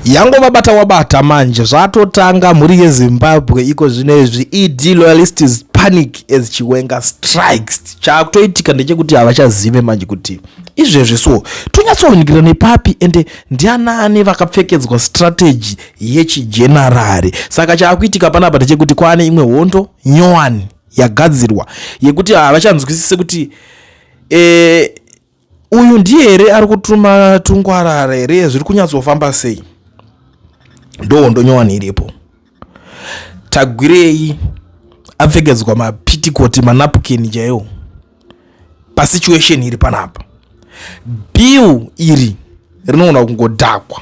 yango vabata wabata manje zvatotanga mhuri yezimbabwe iko zvino izvi ed loyalistis panic as chiwenga strikes chaakutoitika ndechekuti havachazive manje kuti izvezvi so tonyatsoonekera nepapi ende ndianaani vakapfekedzwa strategy yechijenarari saka chaakuitika panapa ndechekuti kwaane imwe hondo nyowani yagadzirwa yekuti havachanzwisise kuti eh, uyu ndiye here ari kutuma tungwarara here zviri kunyatsofamba sei ndohondo nyowani iripo tagwirei apfekedzwa mapitikoti manapukeni chaiwo pasituation iri panapa bill iri rinogona kungodhakwa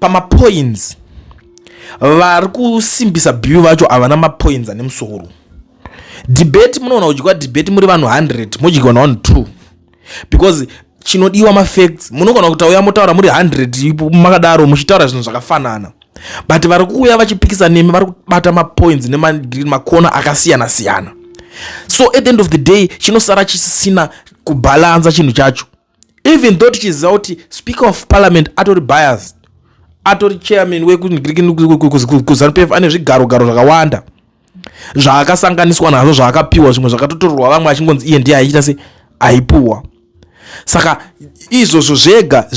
pamapoints vari kusimbisa bill vacho havana mapoints ane musoro debate munoona kudyiwa debate muri vanhu 100 modyiwa navanhu 2 because chinodiwa mafacts munogona kutauya motaura muri 100 makadaro muchitaura zvinhu zvakafanana but vari kuuya vachipikisa nemi vari kubata mapoints nemakona akasiyana siyana so at the end of the day chinosara chisina kubhalansa chinhu chacho even though tichiziva kuti speaker of parliament atori biased atori chairman wekuzanupf wek, ane zvigarogaro zvakawanda zvaakasanganiswa nazvo zvaakapiwa zvimwe zvakatotorerwa vamwe achingonzi iye ndiye aiita se aipuwa saka izvozvo zvega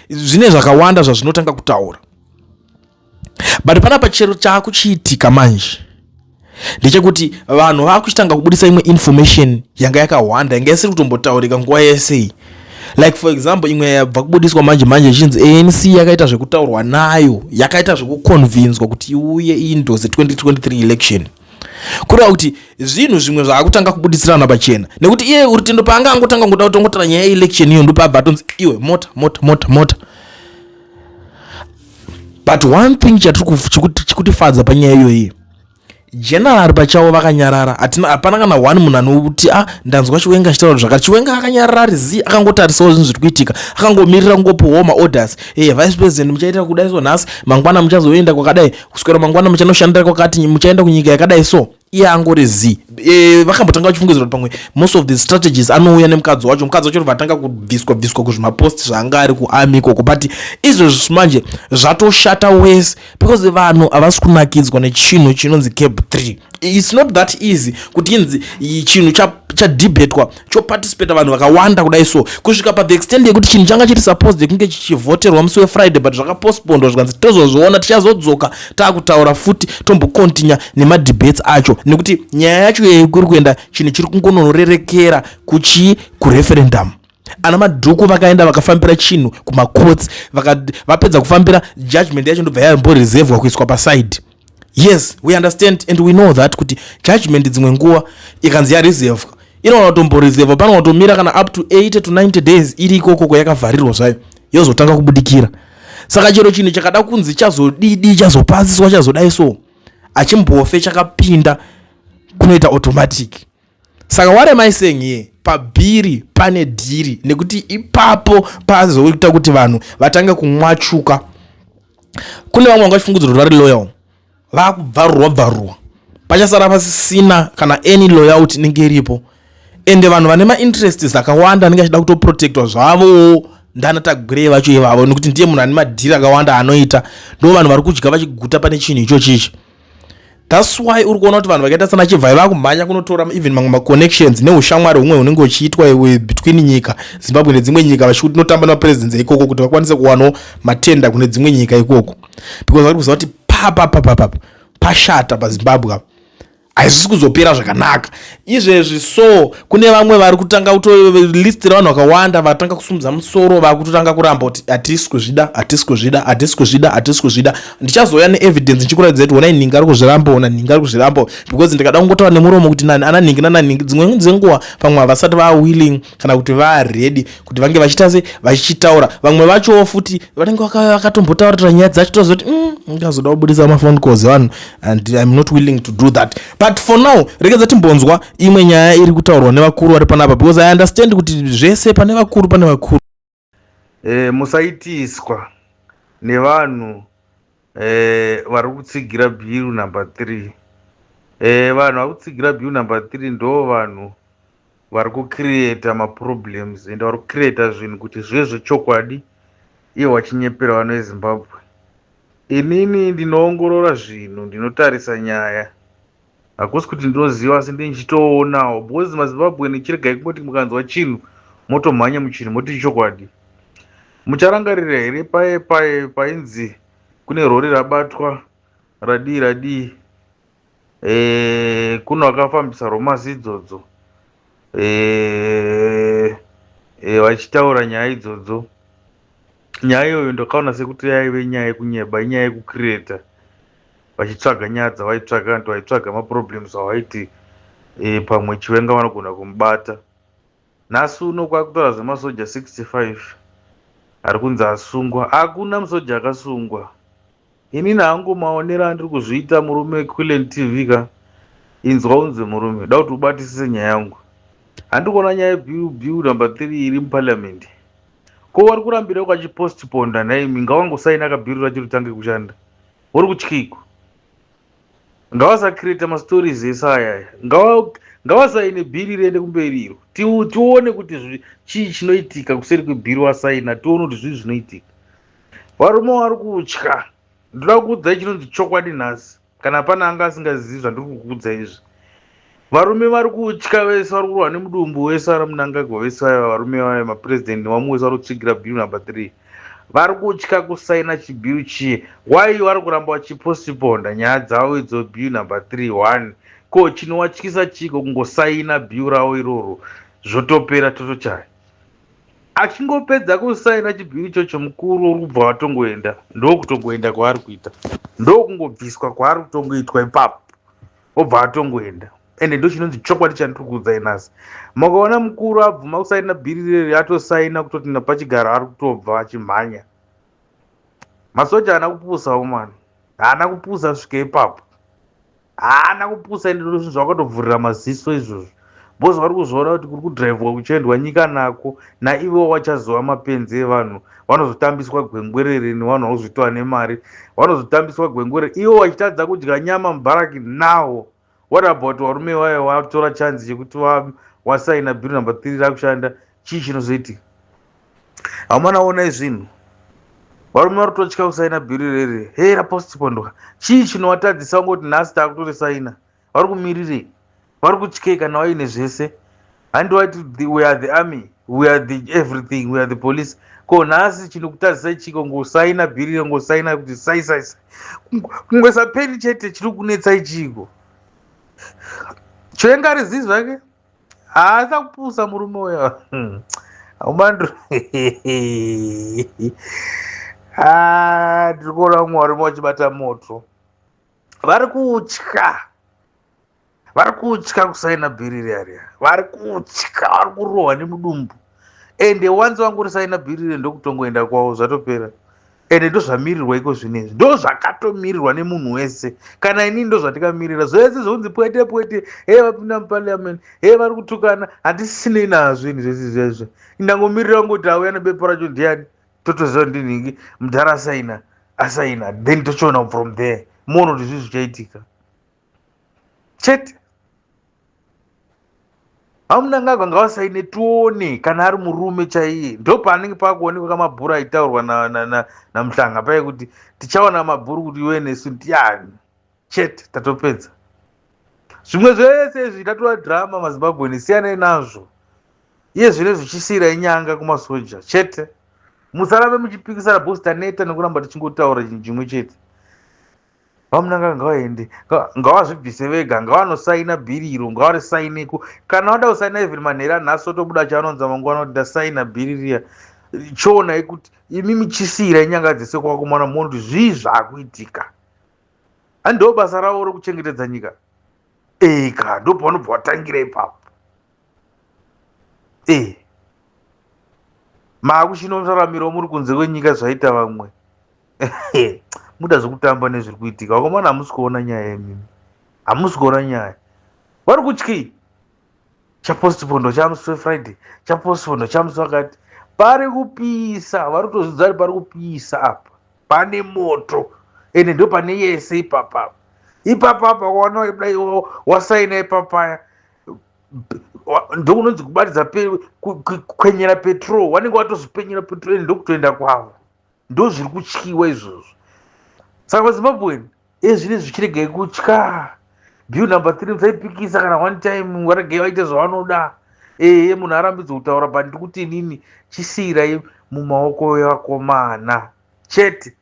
zvine zvakawanda zvazvinotanga kutaura but panapa chero chaakuchiitika manje ndechekuti vanhu vakuchitanga kubudisa imwe information yanga yakahwanda yanga isiri kutombotaurika nguva yesei like for example imwe yabva kubudiswa manje manje ichinzi anc yakaita zvekutaurwa nayo yakaita zvekuconvinswa kuti iuye iindose 2023 election kureva kuti zvinhu zvimwe zvaakutanga kubudisirana pachena nekuti iye rutendo paanga angotanga kungoda kutongotara nyaya yeelection iyo ndopaabva atonzi iwe mota mota mota mota but one thing chikutifadza panyaya iyoyi general pachavo vakanyarara hatina hapana kana one munhu anoti a ah, ndanzwa chiwenga achitaura zvakati chiwenga akanyarara ari zi akangotarisawo zvinhu zviri kuitika akangomirira kungopiwawo maorders e eh, vice president muchaita kudai so nhasi mangwana muchazoenda kwakadai kuswera mangwana muchanoshandira kwakati muchaenda kunyika yakadai so iye angori z e, vakambotanga vachifungidzira kuti pamwe most of the strategies anouya nemukadzi wacho mukadzi wacho vatanga kubviswa bviswa kuzvimapost zvaanga ari kuami ikoko but izvezvi manje zvatoshata wese because vanhu havasi kunakidzwa nechinhu chinonzi cab 3 its not that easy kuti inzi chinhu chadebetwa choparticipata vanhu vakawanda kudai so kusvika pathe extend yekuti chinhu changa chiri supposed yekunge chichivhoterwa musi wefriday but zvakapostpondwa zvikanzi tozozviona tichazodzoka taakutaura futi tombokontinya nemadebates acho nekuti nyaya yacho yei kuri kuenda chinhu chiri kungononorerekera kuchii kureferendamu ana madhuku vakaenda vakafambira chinhu kumacourts vapedza kufambira judgment yacho ndobva yamboreservwa kuiswa paside yes we understand and we know that kuti judgment dzimwe nguva ikanzi yareservwa inogona kutomboreservwa panogona kutomira kana up to 80 to 90 days iri ikoko kwayakavharirwa zvayo yozotanga kubudikira saka chero chinhu chakada kunzi chazodidi chazopasiswa chazodai so achimbofe chakapinda kunoita automatic saka what am i saying here pabhiri pane dhiri nekuti ipapo pazoita kuti vanhu vatange kumwachuka kune vamwe vanga vachifungudzirwa vari loyal vakubvarurwa bvarurwa pachasara pasisina kana any loyalty inenge iripo ende vanhu vane mainterests akawanda anenge achida kutoprotectwa zvavowo ndana tagwirei vacho ivavo nekuti ndiye munhu ane madhiri akawanda anoita ndo vanhu vari kudya vachiguta pane chinhu ichochichi thats why uri kuona kuti vanhu vakaita sana chivhai vakumhanya kunotora even mamwe maconnections neushamwari humwe hunenge huchiitwa iwe between nyika zimbabwe nedzimwe nyika vachikuti tinotamba nemapresidents ikoko kuti vakwanise kuwanawo matenda kune dzimwe nyika ikoko because vari kuziva kuti papapapapapa pashata pazimbabwe apa haisisi kuzopera zvakanaka izvezvi so kune vamwe vari kutanga kuto list ravanhu vakawanda vatanga kusumudza musoro vakutotanga kuramba kuti hatisi kuzvida hatisi kuzvida hatisi kuzvida hatisi kuzvida ndichazouya neevidence ndichikuratidza kuti wonai nhingi ari kuzviramba ona nhingi ari kuzviramba because ndikada kungotaura nemuromo kuti nani ana nhingi nananhingi dzimwe dzenguva pamwe havasati vawilling kana kuti varedi kuti vange vachiita se vachitaura vamwe vachowo futi vanenge vakatombotaurira nyaya dzacho tozoti mm, ngazoda kubudisa mafone cause vanhu and im not willing to do that but for now rekedza timbonzwa imwe nyaya iri kutaurwa nevakuru vari panapa because i understand kuti zvese pane vakuru pane vakuru E, musaitiswa nevanhu e, vari kutsigira bill number three e, vanhu vari kutsigira bill number three ndo vanhu vari kucreata maproblems and vari kucreata zvinhu kuti zvive zvechokwadi iye wachinyepera vano vezimbabwe inini ndinoongorora zvinhu ndinotarisa nyaya hakusi kuti ndinoziva asi ndinenge ndichitoonawo because mazimbabwean chiregai kungoti mukanzwa chinhu motomhanya muchinhu moti ichokwadi mucharangarira here paye paye painzi kune rori rabatwa radii radii e, kuno akafambisa romasi idzodzo e, e, vachitaura nyaya idzodzo nyaya iyoyo ndakaona sekuti yaive nyaya yekunyeba inyaya yekukireta vachitsvaga nyaya dzavaitsvaga and vaitsvaga maproblems avaiti e, pamwe chiwenga vanogona kumubata nhasi uno kwakutora zvemasoja 65 ari kunzi asungwa hakuna musoja akasungwa inini hangu maonero andiri kuzviita murume quilen tv ka inzwa unzi murume da kuti ubatisise nyaya yangu handi kuona nyaya yebill number three iri muparliament ko wari kurambira ukachipostiponda nhaimi ngawangosaina kabhiri rachiri tange kushanda uri kutyiko ngavasacreata mastories ese ayaya ngavasaine bhiri riende kumberi iro tione kuti chii chinoitika kuseri kwebhiri wasaina tione kuti zvii zvinoitika varume vari kutya ndoda kukuudzai chinonzi chokwadi nhasi kana pane anga asingazivi zvandiri kukuudzai izvi Varume vari kutya vese vari kurwa nemudumbu wese ari munangagwa vese vaya varume vaya mapurezidendi vamwe vese vari kutsigira bill number three vari kutya kusaina chibill chiye why vari kuramba vachipostponda nyaya dzavo idzo bill number three one ko chinowatyisa chiiko kungosaina bill ravo iroro zvotopera totochaya achingopedza kusaina chibill ichocho mukuru uri kubva vatongoenda ndokutongoenda kwaari kuita ndokungobviswa kwaari kutongoitwa ipapo obva atongoenda ende ndochinonzi chokwadi chandiri kuudzai nhasi makaona mukuru abvuma kusaina bhiri reri atosaina kutoti napachigaro ari kutobva achimhanya masoja haana kupusawo mwana haana kupusa svika ipapo haana kupusa ende ndozvinhu zvakatovhurira maziso izvozvo bcause vari kuzoona kuti kuri kudhiraivhwa kuchiendwa nyika nako naivo vachazova mapenzi evanhu vanozotambiswa gwengwerere nevanhu vakuzoitwa nemari vanozotambiswa gwengwerere ivo vachitadza kudya nyama mubharaki now what about varume vaye vatora chanzi chekuti vasaina bill number three rakushanda chii chinozoitika hamana onai zvinhu varume vari kutotya kusaina bhiri rere hera postpondwa chii chinovatadzisa kungoti nhasi taakutorisaina vari kumirirei vari kutyei kana vaine zvese handi wati we are the army we are the everything we are the police ko nhasi chinokutadzisai chiko ngosaina bhiriro ngosaina kuti saisaisa kungosaperi chete chiri kunetsai chiko choenga ari zii zvake haasa kupusa murume uya hmm. aumandro ah, tiri kuona mumwe warume wachibata moto vari kutya vari kutya kusaina bhiri riya riya vari kutya vari kurohwa nemudumbu ende wanzi wangu risaina bhiri riya ndokutongoenda kwavo zvatopera ende ndozvamirirwa iko zvino izvi ndo zvakatomirirwa nemunhu wese kana inini ndo zvatikamirira zvese zvonzi pwete pwete hee vapinda muparliament hee vari kutukana handisinei nazvo ini zvese izvezvo indangomirira kungoti auya nebepa racho ndiani totoziva kuti ndinhingi mudhara asaina asaina then tochiona from there moona kuti zvii zvichaitika chete amunangagwa ngavasaine tione kana ari murume chaiye ndo paanenge pakuonekwa kamabhuru aitaurwa namuhlanga paye kuti tichaona mabhuru kuti iwe nesu ndiani chete tatopedza zvimwe zvese izvi tatova drama mazimbabweni siyanei nazvo iye zvine zvichisiyira inyanga kumasoja chete musarambe muchipikisana bos taneta nekuramba tichingotaura chinhu chimwe chete vamunanga ngavaende ngavazvibvise vega ngavanosaina bhiri iro ngavarisaineko kana vada kusaina even manheri anhasi otobuda chaanonza mangwana kuti ndasaina bhiri riya choonai kuti imi muchisiira inyanga dzese kwakumana moona kuti zvii zvaakuitika Ani ndo basa ravo rokuchengetedza nyika. Eh ka ndo pavanobva vatangira ipapo. Eh. Makushino muraramiro muri kunze kwenyika zvaita vamwe. Muda zvekutamba nezviri kuitika. Vakomana hamusi kuona nyaya imimi. Hamusi kuona nyaya. Vari kutyei? chapostpo ndochamusi wefriday chapostpo ndochamusi wakati pari kupisa vari kutozvidza kuti pari kupisa apa pane moto ende ndo pane yese ipapapa ipapapa waona dai wasaina ipapaya ndokunonzi kubatidza kwenyera petrol wanenge watozopenyera petrol ende ndokutoenda kwavo ndozviri kutyiwa izvozvo saka mazimbabwen ezvine zvichiregai kutya bill number three musaipikisa kana one time varegei vaite zvavanoda ehe munhu arambidzo kutaura but ndiri kuti inini chisiyirai mumaoko evakomana chete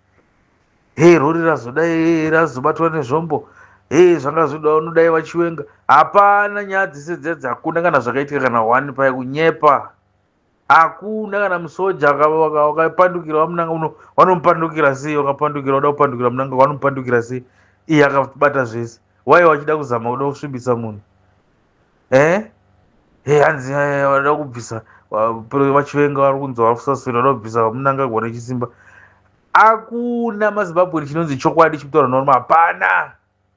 he rori razoda e razobatwa nezvombo he zvanga zvoda unodai vachiwenga hapana nyaya dzese dzedzi hakuna kana zvakaitika kana one paye kunyepa hakuna kana musoja wakapandukira wamunanga uno wanomupandukira sei wakapandukira wada kupandukira munanga wanomupandukira sei iye akabata zvese waiye wachida kuzama kuda kusvibisa munhu eh? e hanzi wada kubvisa vachivenga vari kunzi vari kusaswira wada kubvisa vamunanga kuva nechisimba hakuna mazimbabweni chinonzi chokwadi chimutaura norma hapana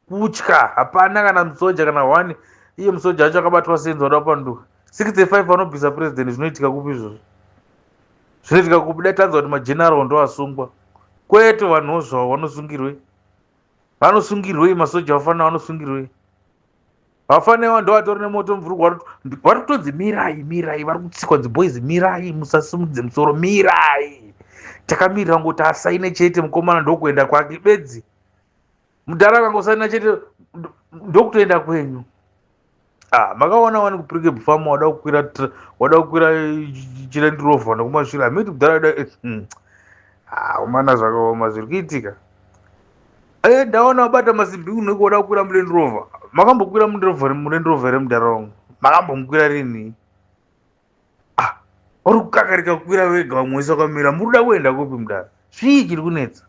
kutya hapana kana musoja kana one iye musoja acho akabatwa senzi wada kupanduka 65 vanobvisa president zvinoitika kupi izvozvo zvinoitika kupi dai tanzwa kuti mageneral ndo asungwa kwete vanhuwo zvavo vanosungirwei vanosungirwei masoja vafanira vanosungirwei vafanira ndo vatori nemoto mvurugwa vari kutonzi mirai mirai vari kutsikwa dziboys mirai musasumudze musoro mirai takamirira ngoti asaine chete mukomana ndokuenda kwake bedzi mudhara akangosana chete ndokutoenda kwenyu ah, makaona wani kupirike bufama wada kukwira wada kukwira chirendirovha nekumashure hamiti mudhara da eh, hmm. ah, umana zvakaoma zviri kuitika e ndaona wabata masimbi unenge wada kukwira murendirovha makambokwira murendirovha remudhara wangu makambomukwira rinii ah uri kukakarika kukwira wega vamwe wese wakamira muri kuda kuenda kupi mudaro zvii chiri kunetsa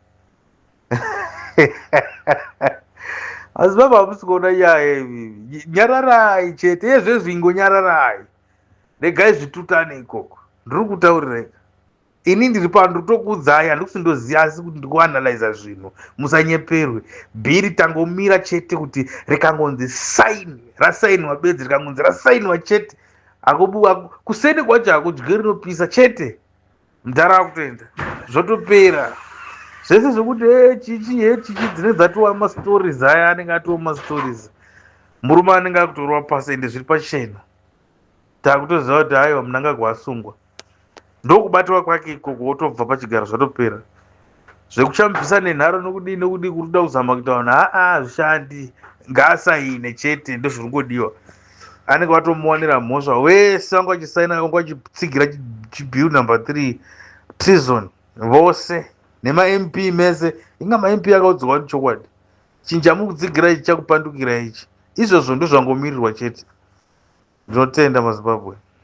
asi baba hamusi kuona nyaya ivivi nyararai chete yezvezvingo nyararai regai zvitutane ikoko ndiri kutaurirai ini ndiri pano ndotokuudzai handikuti ndoziva asi kuti ndikuanalyza zvinhu musanyeperwe bhiri tangomira chete kuti rikangonzi saini rasainwa bedzi rikangonzi rasainwa chete akobuwa kuseni kwacho hakudye rinopisa chete mdhara akutoenda zvotopera zvese zvekuti eh, chichi he eh, chichi dzine dzatova mastories aya anenge atova mastories murume anenge akutorova pasi ende zviri pachena takutoziva kuti aiwa munangagwa asungwa ndokubatwa kwake ikoko wotobva pachigaro zvatopera zvekuchambisa nenharo nokudii nokudii kuri kuda kuzama kuita vanhu haa hazvishandi ngaasaine chete ndozviri kungodiwa anenge vatomuwanira mhosva wese vanga vachisaina vanga vachitsigira chibill number three treason vose nemamp mese inga mamp akaudzwa kuti chokwadi chinja mukutsigira ichi chakupandukira ichi izvozvo ndozvangomirirwa chete ndinotenda mazimbabwe